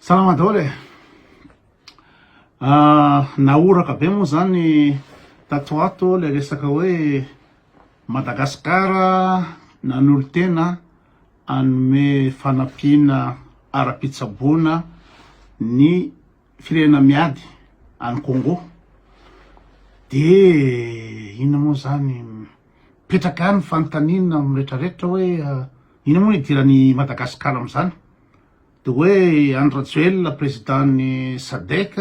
Salama daholo e! Nahoraka be moa zany tato ato le resaka hoe Madagascar nanolo-tena hanome fanampiana ara-pitsaboana ny firenena miady any Congo. De inona moa zany mipetraka any ny fanontaniana amin'ny rehetrarehetra hoe inona moa no hidiran'i Madagascar amin'izany? Dia hoe Andry Rajoelina président ny Sadec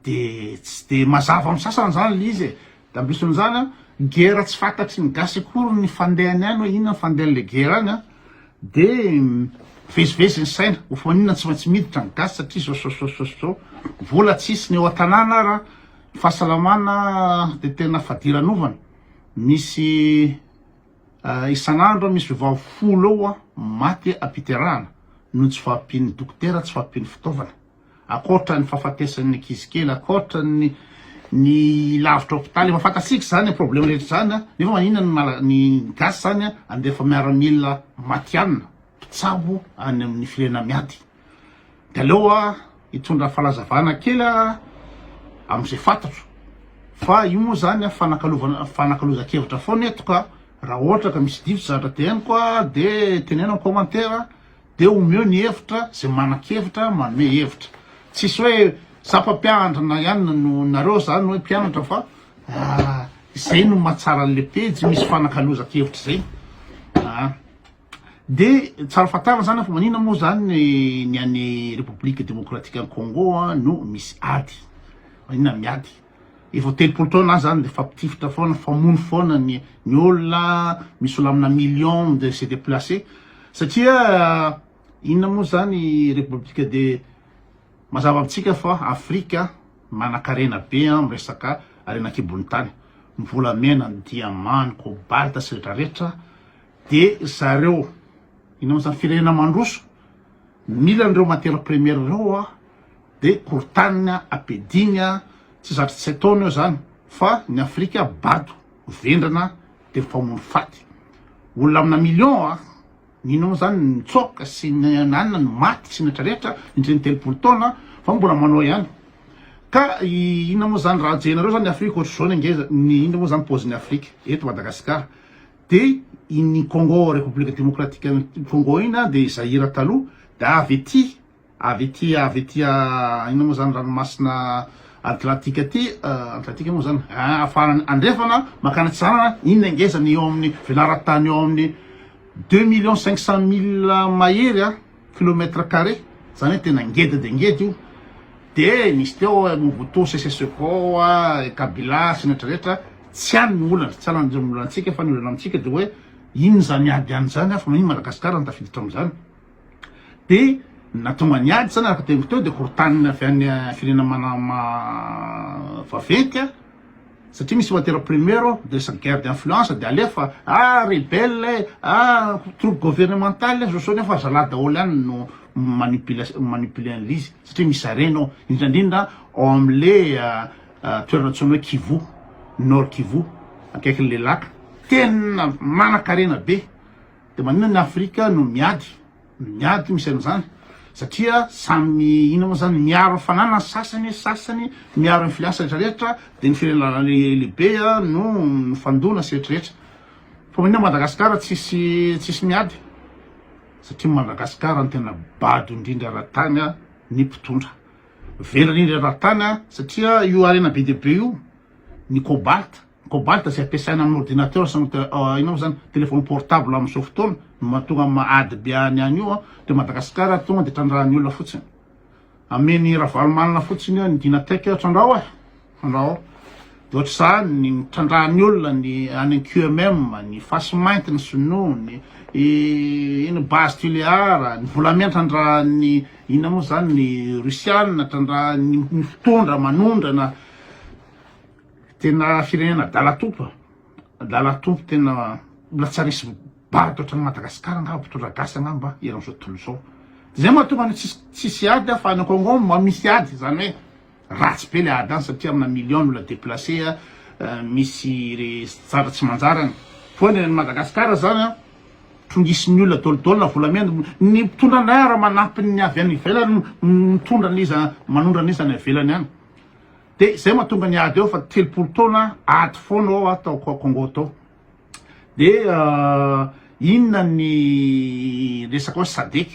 dia tsy dia mazava amin'ny sasany izany ilay izy e, dia ambisin'izany an, guerre tsy fantatry ny gasy akory ny fandehany any hoe inona ny fandehan'ilay guerre any an, dia mivezivezy ny saina, ho maninona tsy maintsy miditra ny gasy satria izao izao izao izao izao, vola tsy hisy ny eo an-tanàna ary an, ny fahasalamana dia tena fadiranovana, misy. Isan'andro misy vehivavy folo eo maty am-piterahana noho ny tsy fahampian'ny dokotera, tsy fahampian'ny fitaovana. Ankoatra ny fahafatesan'ny ankizy kely, ankoatra ny ny lavitra hopitaly, efa fantatsika izany problème rehetra izany, nefa maninona ny mala ny gasy izany andefa miaramila matihanina. mpitsabo any amin'ny firenena miady. Dia aleo aho hitondra fanazavana kely amin'izay fantatro. Fa io moa izany fanakalovana fanakalozan-kevitra foana eto ka raha ohatra ka misy diso zatra teneniko dia teneno amin'ny commentaire dia omeo ny hevitra izay manan-kevitra manome hevitra. Tsisy hoe sapa mpiandrana ihany no nareo izany hoe mpianatra fa izay no mahatsara an'ilay pejy misy fanakalozan-kevitra izay. De tsara fantarina zany fa manina moa zany ny any République démocratique any Congo no misy ady, manina miady, efa telopolo taona any zany de mifampitifitra foana, mifamono foana ny ny olona, misy olona amina millions de se déplacer satria inona moa zany République de, mazava amintsika fa Afrika manankarena be am resaka harena ankibon'ny tany, ny volamena, ny diamant, ny cobalt sy retraretra, De ry zareo eny amin'izany firenena mandroso mila an'ireo matières premières ireo hoa de korontaniny an, ampidiny an, tsy zatra tsy ataony eo zany fa ny Afrika bado, vendrana de mpamono faty. Olona amina millions an, mino aho zany ny nitsoaka sy ny nanana ny maty sy ny rehetra rehetra indrindra ny telopolo taona fa mbola manao ihany. Ka inona moa zany raha ajehinareo zany ny Afrika ohatr'izao ny ngeza, ny inona moa zany paozin'ny Afrika eto Madagasikara. Dia iny Congo Repoblika Demokratikan'i Congo iny an, dia i Zaïre taloha, dia avy ety, avy ety, avy ety inona moa izany ranomasina Atlantika ety, Atlantika moa izany, ah, afarany andrefana mankany atsinanana, iny no ngeza ny eo amin'ny velaran-tany eo amin'ny deux millions cinq cent mille mahery an. kilomètre carré zany hoe tena ngeda dia ngeda io de nisy teo oe Mobutu Sese Seko a Kabila sy ny rehetra rehetra tsy any ny olana tsy any ny olantsika fa ny olana amintsika dia oe inona izany ady any izany ary fa manino Madagasikara no tafiditra amin'izany de nahatonga ny ady izany araka ny teniko teo dia korotanina avy any firenena vaventy a satria misy matière première ao dia lasa guerre d'influence dia alefa ah rebelle e ah troupe gouvernementale e zosony eo fa zalahy daholo ihany no manipule manipule an'ilay izy satria misy harena ao indraindrindra ao amin'le toerana antsoina hoe Kivu Nord Kivu akaikin'le laka tena manan-karena be dia maninona ny Afrika no miady Miady misy an'izany satria samy mi ina moa zany miaro ny fananany sasany ny sasany miaro ny filiansa rehetra rehetra de ny firenana lehibe no mifandona sy rehetra rehetra fa maninona Madagascar tsisy tsisy miady satria Madagascar no tena bado indrindra raha tany ny mpitondra velona indrindra raha tany satria io harena be dia be io ny cobalt Cobalt izay ampiasaina amin'ny ordinateur sy inona moa izany, téléphone portable amin'izao fotoana no mahatonga an'i Mahady be any any io dia Madagascar tonga dia trandrahan'ny olona fotsiny. Amen'i Ravalomanana fotsiny eo ny Dynatec eo, trandraho e, trandraho. Dia ohatr'izany ny trandrahan'ny olona ny any QMM, ny fasy mainty ny sinoa, ny ino base Tuléar, ny volamena trandrahan'ny inona moa izany ny Russiana, trandrahan'ny mitondra, manondrana. Tena firenena adala tompo a, adala tompo tena mbola tsy haharesy bado ohatran'i Madagasikara angamba mpitondra gasy angamba eran'izao tontolo izao. Zay mahatonga ny tsisy tsisy ady a fa any Congo mba misy ady izany hoe ratsy be le ady any satria amina millions ny olona deplacer a, misy zavatra tsy manjary any. Foana eran'i Madagasikara izany a, trongisin'ny olona dol dol na volamena, ny mpitondra indray ara-manampy ny avy any ivelany mitondra an'iza manondra an'iza any ivelany any. Dia izay mahatonga ny ady eo fa telopolo taona ady foana ao aho tao Congo tao. Dia inona ny resaka hoe SADEC.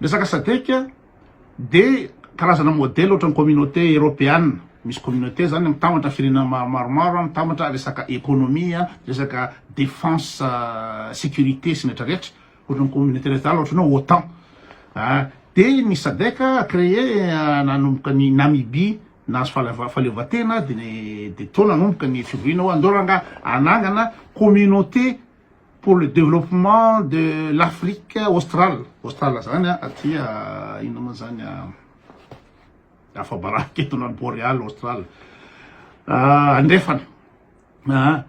Resaka SADEC dia karazana modèle ohatran'ny communauté européenne. Misy communauté zany mitambatra firenena maromaro, mitambatra resaka économie, resaka défense, sécurité sy ny rehetra rehetra. Ohatran'ny communauté rehetra zany ohatran'ny hoe otan ah de ny sadec créé nanomboka ny Namibie nahazo fahalev fahaleovantena de ny de teo nanomboka ny fivoriana hoe andao rangaha anangana communauté pour le développement de l'Afrique australe australe zany a aty inona moa zany a afa-baraka eto na ny Boreal australe andrefana Aa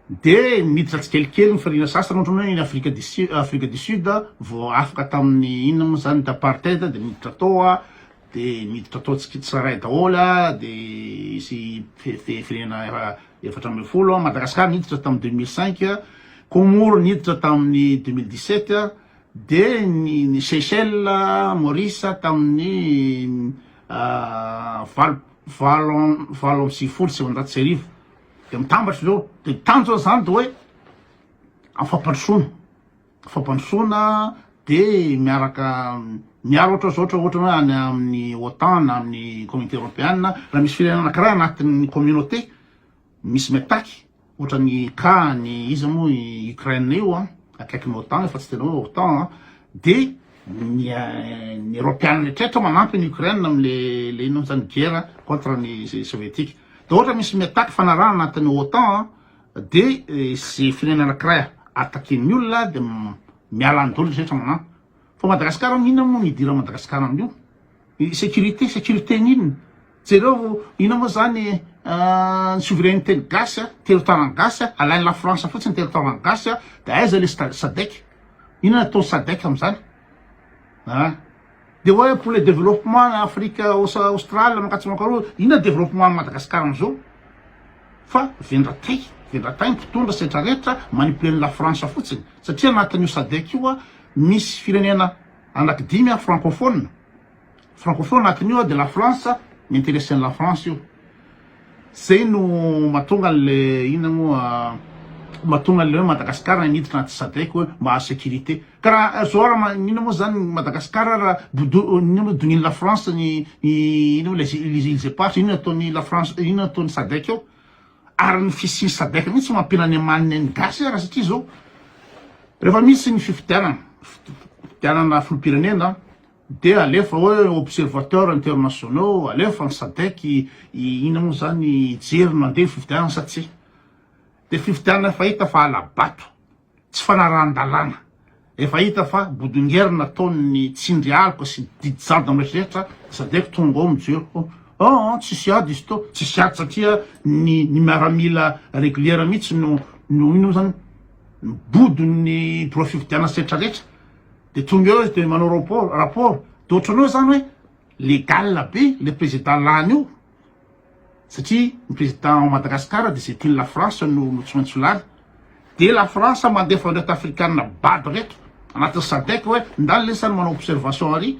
dia miditra tsikelikely ny firiana sasany ohatra hoe ny afrika du sud afrika du sud vao afaka tamin'ny inona moa zany d'apartheid dia miditra tao a dia miditra tao tsarahay daholo a dia sy firenena efatra ambin'ny folo a madagascar niditra tamin'ny deux mille cinq a comoro niditra tamin'ny deux mille dix sept a dia ny ny seychelles maurice tamin'ny valo valo valo amby sivifolo sy sivinjato sy arivo dia mitambatra ireo dia ny tanjona izany dia hoe amin'ny fampandrosoana fampandrosoana dia miaraka miaro ohatra zao ohatra ohatra hoe any amin'ny OTAN na amin'ny communauté européenne raha misy firenena anankiray anatin'ny communauté Misy miataky ohatran'ny cas an'i iza moa i Ukraine io an, akaikin'ny otan io fa tsy tena hoe otan an, de ny ny eropeana rehetrretra manampy an'i Ukraine amle le inona mo zany guerre contre ny sovietika, de ohatra misy miataky fanarahana anatin'ny otan an de ze firenena anakiray ataken'ny olona de miala any doly rehetra manamp. Fa Madagascar am inona moa no idiran Madagascar am io? Securite, securite ny inona? Jereo inona moa zany ny souveraineté ny gasy a, territoire ny gasy a, alainy la France fotsiny territoire ny gasy a, de aiza le sadec? Inona atao sadec am zany? A! De oe pour le développement na Afrique Australe mankatsia mankaroa, inona développement am Madagascar am zao? Fa vendratay, vendratay ny mpitondra setra retra manipuler ny la France fotsiny satria anatin'io sadec io a Misy firenena anaky dimy an francophone, francophone anatin io an de la France mi-interesser an'i la France io, zay no mahatonga an'le inona moa mahatonga an'le hoe Madagascar niditra anaty sadec hoe mba hahazo sécurité, ka raha zao ara inona moa zany ny Madagascar ara bodo inona moa donian'i la France ny inona moa les îles éparses inona ataon'i la France inona ataon'i sadec ao, Ary ny fisian'ny sadec mihitsy no ampiana ny amaniny ny gasy ara satria zao rehefa misy ny fifidianana fifidianana filopirenena dia alefa hoe observateur internationaux alefa ny sadec ina moa zany hijery no andeha fifidianana sa tsia de fifidianana efa hita fa alabato tsy fanarahan-dalàna. Efa hita fa bodongerina ataony ny tsindry aloka sy didy jadona miretrretra sadec tonga ao mijero ho an tsisy ady izy to tsisy ady satria ny ny miaramila reguliera mihitsy no no ino zany bodo ny biro fividianana sy retra retra de tonga eo izy de manao rapport rapport de ohatranao zany hoe legale be le président lany io satria ny président ao Madagascar de c'est une la France no notsoantsolany de la France mandefa an'ireto afrikana bado reto anatin'ny sadec hoe ndany lesy zany manao observation ary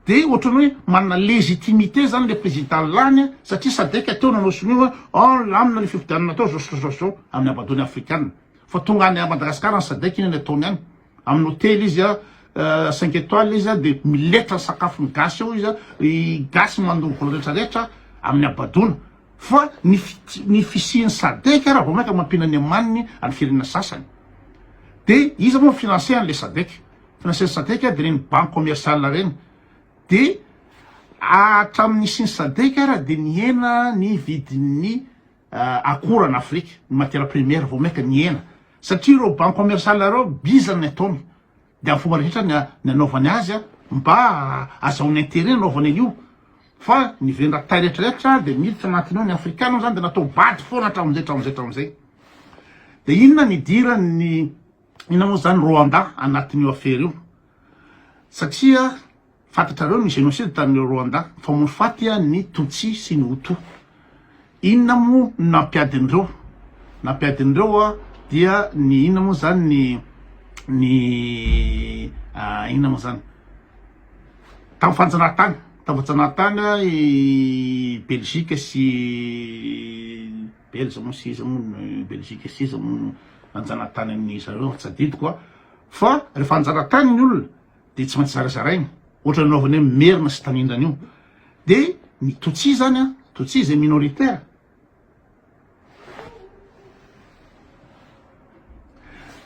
de ohatrany hoe manana légitimité zany le président lany satria sadec teo nanao sonia hoe oh lamina ny fifidianana teo zao zao zao zao amin'ny abadony afrikana fa tonga any Madagascar ny sadec iny ny ataony any Amin'ny hotely izy a, cinq étoiles izy a, dia miletra ny sakafon'ny gasy ao izy a, ny gasy mandoko ny retraretra amin'ny habadoana, fa ny fiti- ny fisian'ny sadec raha vao mainka mampiana ny amaniny any firenena sasany. Dia iza moa mi-financer an'ilay sadec? Financer-n'ny sadec dia ireny banques commerciales ireny. Dia hatramin'ny nisian'ny sadec ary dia nihena ny vidin'ny. akora an Afrika ny matiera premiera vao maika nihena satria ireo banque commerciale ireo bizana ny ataony de am fomba rehetra ny anaovany azy a mba azahoany interet anaovany an'io fa ny vendra tay retraretra de miditra anatiny ao ny afrikana zany de natao bado foana hatramin'izay hatramin'izay hatramin'izay de inona ny idiran'ny inona moa zany Rwanda anatin'io afera io satria Fantatrareo ny génocide tany Rwanda, nifamono faty ny Tutsi sy ny Hutu. Inona moa no nampiadin'ireo? Nampiadin'ireo dia ny inona moa izany ny ny inona moa izany? Tamin'ny fanjanahantany, tamin'ny fanjanahantany i Belgique sy Belge moa sy iza moa no Belgique sy iza moa no nanjanahantany an'i zareo, tsy adidiko an! Fa rehefa hanjanahantany ny olona, de tsy maintsy zarazaraina ohatrany anaovany hoe merina sy tanindrana io de ny Tutsi zany a Tutsi zay minoritaire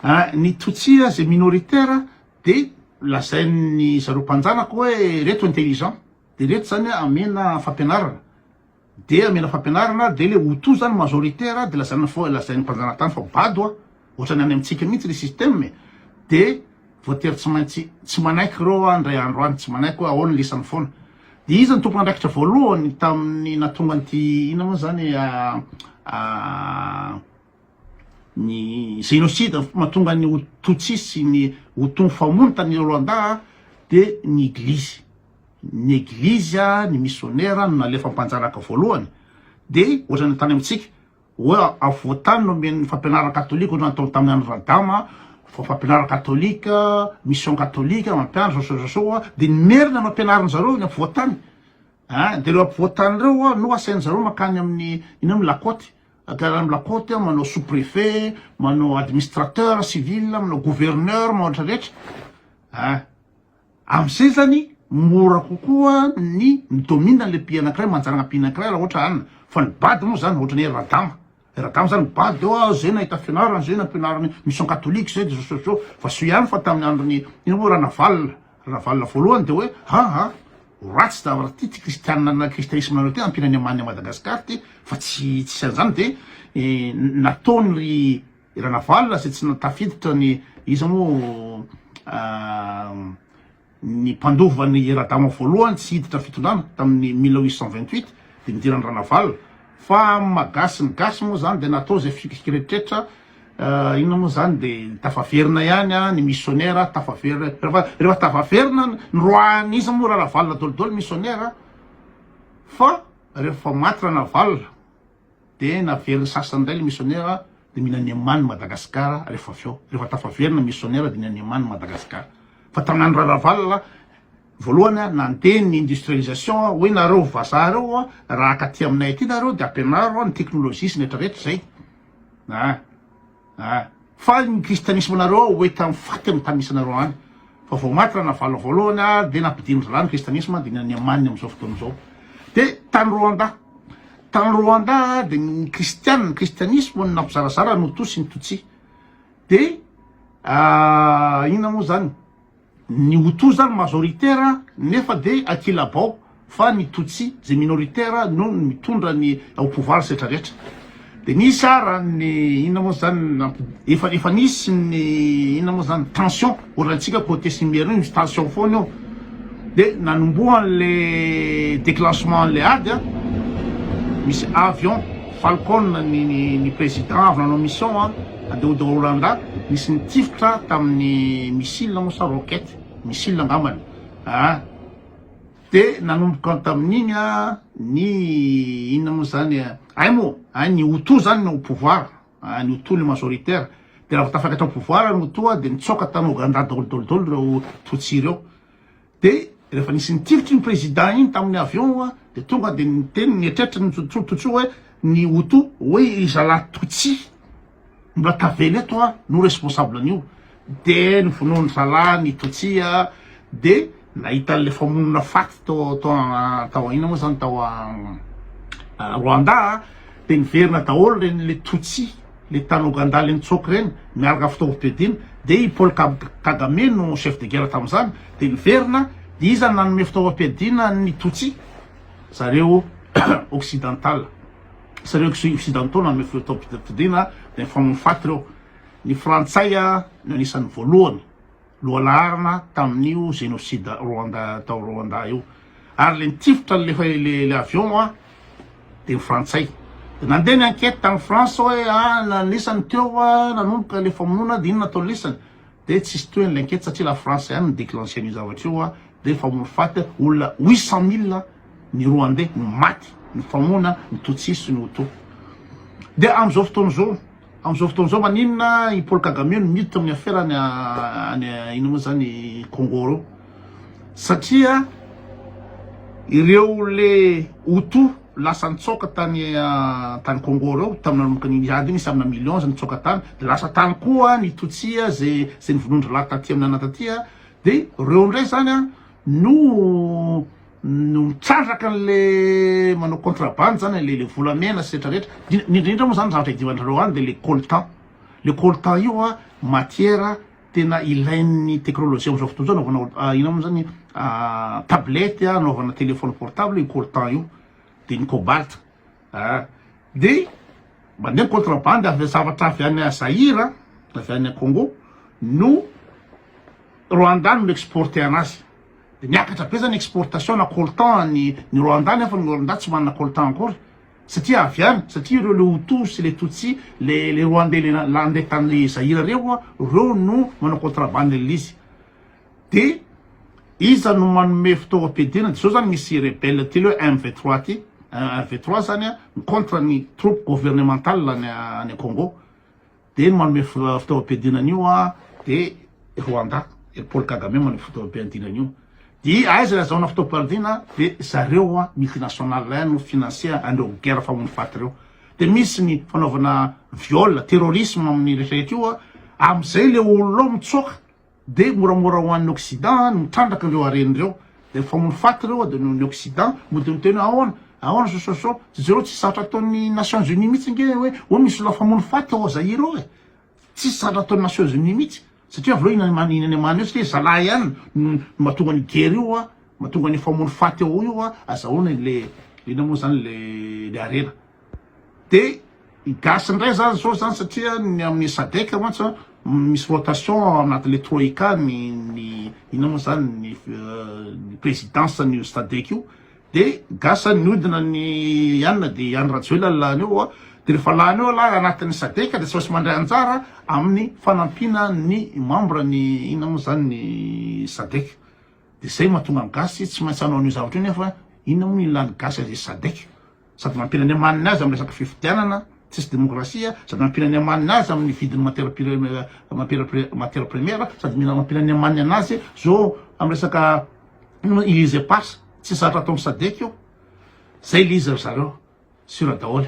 a ny Tutsi zay minoritaire de lazain'ny zareo mpanjanaka hoe reto intelligent de reto zany amena fampianarana Dia amena fampianarana dia le hutu zany majoritaire dia lazaina fa lazain'ny mpanjanatany fa bado a! Ohatrany any amintsika mihitsy le système e! Dia voatery tsy maintsy tsy manaiky ireo aho indray andro any tsy manaiky hoe ahoana ny lisany foana! Dia iza ny tompon' andraikitra voalohany tamin'ny nahatonga an'ity inona moa izany a ny génocide ny mahatonga ny Tutsis sy ny Hutu nifamono tany Rwanda dia ny Eglizy, ny Eglizy, ny misionera no nalefa mpanjanaka voalohany dia ohatran'ny tany amintsika hoe afovoantany no omen'ny fampianarana katolika ohatran'ny tao tamin'ny an'i Radama fampianarana katolika, mission katolika mampianatra zao sy zao sy zao dia ny Merina no ampianarin'ny zareo ny afovoantany, dia ireo afovoantany ireo no asain'ny zareo mankany amin'ny ino moa Lakôty. Ampela am la côte eo manao sous préfet, manao administrateur civil, manao gouverneur, manao rehetra rehetra ah amzay zany mora kokoa ny midomine anle mpi anakiray manjaragna mpi anakiray raha ohatra an fa ny bado moa zany ohatra ny hoe radama radama zany bado eo ah zay nahita fianarana zay nampianariny mission catholique zay de zao sy zao fa soa ihany fa taminy androny ino moa ranavalona Ravalona voalohany dia hoe aa ho ratsy zavatra ity ty kristianina na kristaisme nareo ty ampiana any amany Madagascar ty fa tsy tsisy anzany de nataony ry ranavalona zay tsy tafiditra ny iza mo ny mpandova ny radama voalohany tsy hiditra fitondrana taminy mille huit cent vingt huit de nidirany ranavalona fa magasy ny gasy mo zany de natao zay fikirikiretriretra Inona moa izany dia tafaverina ihany ny missionnaire tafaverina rehefa tafaverina ny roahan'iza moa raravalona dolidoly missionnaire fa rehefa maty ranavalona dia naveriny sasany indray le missionnaire dia mila ny amany Madagascar rehefa avy eo rehefa tafaverina missionnaire dia mila ny amany Madagascar fa tamin'andro raravalona voalohany nandeha ny industrialisation hoe nareo vazaha reo raha akaty aminay aty nareo dia ampianaro ny technologie sy ny retraretra izay Ahh ahh fa ny kristianisma nareo ao hoe tam faty no tanisanareo any fa vao maty ranavalona voalohany ary dia nampidin-dry lahy ny kristianisma dia ny any yamany amin'izao fotoana izao dia tany roanda tany roanda dia ny kristiana ny kristianisma no nampizarazara ny hoto sy ny tutsi dia inona moa zany Ny Hutu zany majoritaire nefa de kilabao fa ny Tutsi zay minoritaire no mitondra ny au pouvoir setra retra de nisy ara ny inona moa zany efa efa nisy ny inona moa zany tension ohatran tsika cote simiera io misy tension foana io de nanombohan le declenchement le ady a misy avion falcon ny ny president avy nanao mission a. Andao Daolanda nisy nitifitra tamin'ny missile moa sa roquette? missile angambany a! de nanomboka tamin'iny ny inona moa zany ay moa a! ny Hutu zany no au pouvoir a! ny Hutu le majoritaire de raha vao tafakatra au pouvoir ny Hutu a! de nitsoaka tany Oganda daoly daoly daoly reo Tutsi reo. Dia rehefa nisy nitifitry ny président iny tamin'ny avion a, dia tonga dia niteny nietretra ny Tsotsototsoo hoe ny Hutu hoe i zalahy Tutsi mbola tavela eto a no responsable an'io, dia novonoin'ny zalahy ny Tutsi a, dia nahita an'ilay famonoana faty tao tao tao aina moa zany tao Rwanda a, dia niverina daholo ireny le Tutsi. le taloha gandale nitsoaka ireny miaraka fitaovom-piadiana dia i Paul Kagame no chef de guerre tamin'izany dia niverina dia iza no nanome fitaovam-piadiana an'ny Tutsi zareo occidental zareo occidentaux nanome fitaovam-piadiana dia nifamono faty ireo ny frantsay no anisan'ny voalohany Lohalarana tamin'io génocide Rwanda tao Rwanda io. Ary le nitifitra le le avion a de ny frantsay. De nandeha ny enquête tany France hoe a nanisany teo a nanomboka le famonoana de inona atao lisany. De tsisy tohiny le enquête satria la France ihany no déclencher an'io zavatra io a de famono faty olona huit cent mille ny Rwandais no maty nifamonoana ny Tutsis sy ny Hutu. De am'zao fotoana zao. Amin'izao fotoana izao maninona i Paul Kagame no miditra amin'ny afera any any inona moa izany Congo ireo? Satria ireo le Hutu lasa nitsaoka tany tany Congo ireo tamin'ny nanomboka ny ady iny samina millions nitsaoka tany dia lasa tany koa ny Tutsi izay izay nivonondry lahy taty amin'ny anona taty dia ireo indray izany no no mitrandraka anle manao contrabande zany le le volamena sy retra retra ny ny indrindra moa zany ny zavatra idiovandrareo any de le coltan le coltan io a matière tena ilain'ny teknolojia amzao fotoana zao anaovana or- ino mo zany tablette a anaovana telephone portable io coltan io de ny cobalt ah de mandeha ny contrabande avy zavatra avy any zaïre a avy any congo no rwanda no mi-exporter anazy Dia niakatra be zany exportation na coltan any ny Rwanda nefa ny Rwanda tsy manana coltan akory satria avy any satria ireo le Hutu sy le Tutsi le le Rwandais le nandeha tany le Zaïre reo a reo no manao contrabande an'le izy de iza no manome fitaovam-piadiana de zao zany misy rebelle ty le MV3 ty MV3 zany a mi-contre ny troupe gouvernementale any any Congo Dia ny manome fitaovam-piadiana an'io dia Rwanda, i Paul Kagame manome fitaovam-piadiana an'io. Dia aiza ilay azahoana fitaovam-piadiana? Dia zareo multinationales no financer an'ireo guerre famono fat ireo. Dia misy ny fanaovana viol, terrorisme amin'ny rehetra rehetra io, amin'izay ilay olona ao mitsoaka. Dia moramora ho an'ny occident ny mitrandraka ireo harena ireo. Efa ho faty ireo dia noho ny occident mody miteny hoe ahoana, ahoana sososô. Jereo tsy zatra ataon'ny nations unies mihitsy ange hoe hoe misy olona efa hamono faty ao Zaire ao e. Tsisy zatra ataon'ny nations unies mihitsy. Satria avy eo iny iny any amany io satria zalahy ihany no mahatonga an'io guerre io a, mahatonga an'io famono faty ao io a, azahoana ilay inona moa zany ilay ilay harena. Dia ny gasy indray zany zao zany satria ny amin'ny sadec mantsy an, misy rotation ao anatin'ilay troika ny ny inona moa zany ny ny présidence an'io sadec io, dia gasy zany miodina ny ianona dia i Andry Rajoelina no lany eo, dia rehefa lany eo lahy anatin'ny sadec dia tsy maintsy mandray anjara amin'ny fanampiana ny membre ny inona moa zany ny sadec, dia zay mahatonga ny gasy tsy maintsy hanao an'io zavatra io nefa inona moa no ilan'ny gasy an'izay sadec. sady mampiana ny amaniny azy amin'ny resaka fifidianana tsisy demokrasia, sady mampiana ny amaniny azy amin'ny vidin'ny matière première, matière première, sady mila mampiana ny amaniny anazy zo amin'ny resaka ino moa ilise passe, tsy zatra ataon'ny sadec io, zay ilise ry zareo, sur daholo.